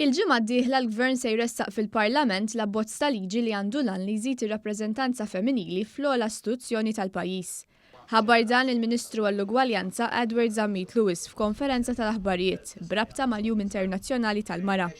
Il-ġimgħa d-dieħla l-Gvern se jressaq fil-Parlament l-abbozz ta' liġi li għandu l-għan li jżid ir-rappreżentanza femminili fl-ogħla istituzzjoni tal-pajjiż. Ħabbar dan il-Ministru għall-Ugwaljanza Edward Zammit Lewis f'konferenza tal-aħbarijiet b'rabta mal-Jum Internazzjonali tal-Mara.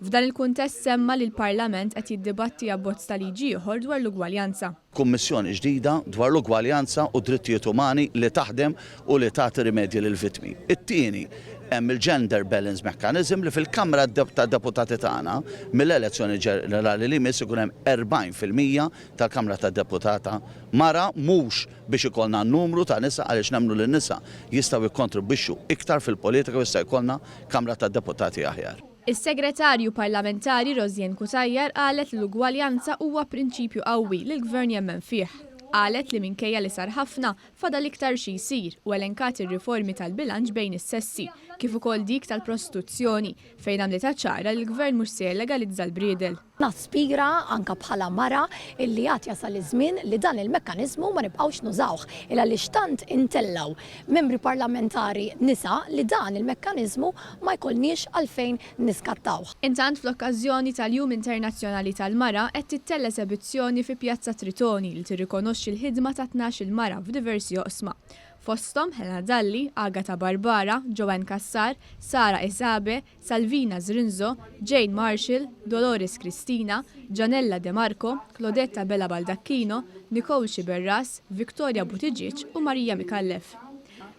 F'dan il-kuntest semma li l-Parlament qed jiddibatti abbozz ta' liġi ieħor dwar l-ugwaljanza. Kummissjoni ġdida dwar l-ugwaljanza u d-drittijiet umani li taħdem u li tagħti rimedji lill-vittmi. It-tieni, hemm il-Gender Balance Mechanism li fil-Kamra tad-Deputati tagħna, mill-elezzjoni ġenerali li jmiss ikun hemm 40 fil-mija tal-Kamra tad-Deputata mara mhux biex ikollna numru ta' nisa għaliex nemmnu li n-nisa jistgħu jikkontribwixxu iktar fil-politika u jista' jkollna Kamra tad-Deputati aħjar. Is-Segretarju Parlamentari Rosianne Cutajar qalet li l-ugwaljanza huwa prinċipju qawwi li l-Gvern jemmen fih. Qalet li minkejja li sar ħafna, fadal iktar xi jsir u elenkat ir-riformi tal-bilanċ bejn is-sessi, kif ukoll dik tal-prostituzzjoni, fejn għamlitha ċara li l-Gvern mhux se jellegalizza l-briedel. Naspira, anke bħala mara, illi għad jasal iż-żmien li dan il-mekkaniżmu ma nibqgħux nużawh, il-għaliex tant intellgħu Membri Parlamentari nisa li dan il-mekkaniżmu ma jkollniex għalfejn niskattawh. Intant fl-okkażjoni tal-Jum Internazzjonali tal-Mara qed tittell' esebizzjoni fi Pjazza Tritoni li tirrikonoxxi l-ħidma ta' tnax-il mara f'diversi oqsma, fosthom Helena Dalli, Agata Barbara, Joanne Cassar, Sara Isabe, Salvina Zrinzo, Jane Marshall, Dolores Cristina, Janella De Marco, Claudette Abela Baldacchino, Nicole Sciberras, Victoria Buttigieg u Maria Micallef.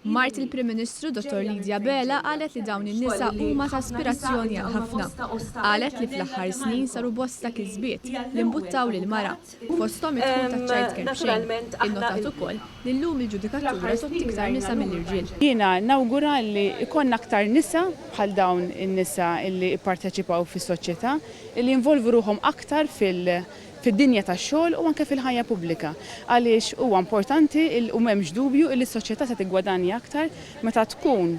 Mart il-Prim Ministru Dottor Lydia Abela qalet li dawn in-nisa huma ta' aspirazzjoni għal ħafna. Qalet li fl-aħħar snin saru bosta kisbiet li mbuttaw lill-mara. fosthom id-dħul taċ-childcare b'xejn, innotat ukoll li llum il-ġudikatura tgħodd iktar nisa mill-irġiel. Jiena nawgura li jkollna aktar nisa bħal dawn in-nisa li jipparteċipaw fis-soċjetà, li jinvolvu ruħhom aktar fid-dinja tax-xogħol u anke fil-ħajja pubblika, għaliex huwa importanti u m'hemmx dubju li s-soċjetà se tiggwadanja aktar meta tkun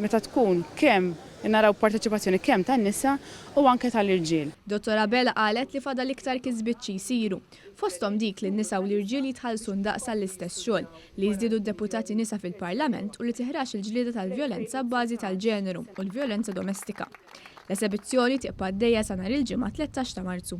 meta tkun kemm naraw parteċipazzjoni kemm tan-nisa u anke tal-irġiel. Dottor Abela qalet li fadal iktar kisbiet xi jsiru, fosthom dik li n-nisa u l-irġiel jitħallsu ndaqs għall-istess xogħol, li jiżdiedu d-deputati nisa fil-Parlament u li tiħrax il-ġlieda tal-vjolenza abbażi tal-ġeneru u l-vjolenza domestika. L-esebizzjoni tibqa' għaddejja sa nhar il-Ġimgħa 13 ta' Marzu.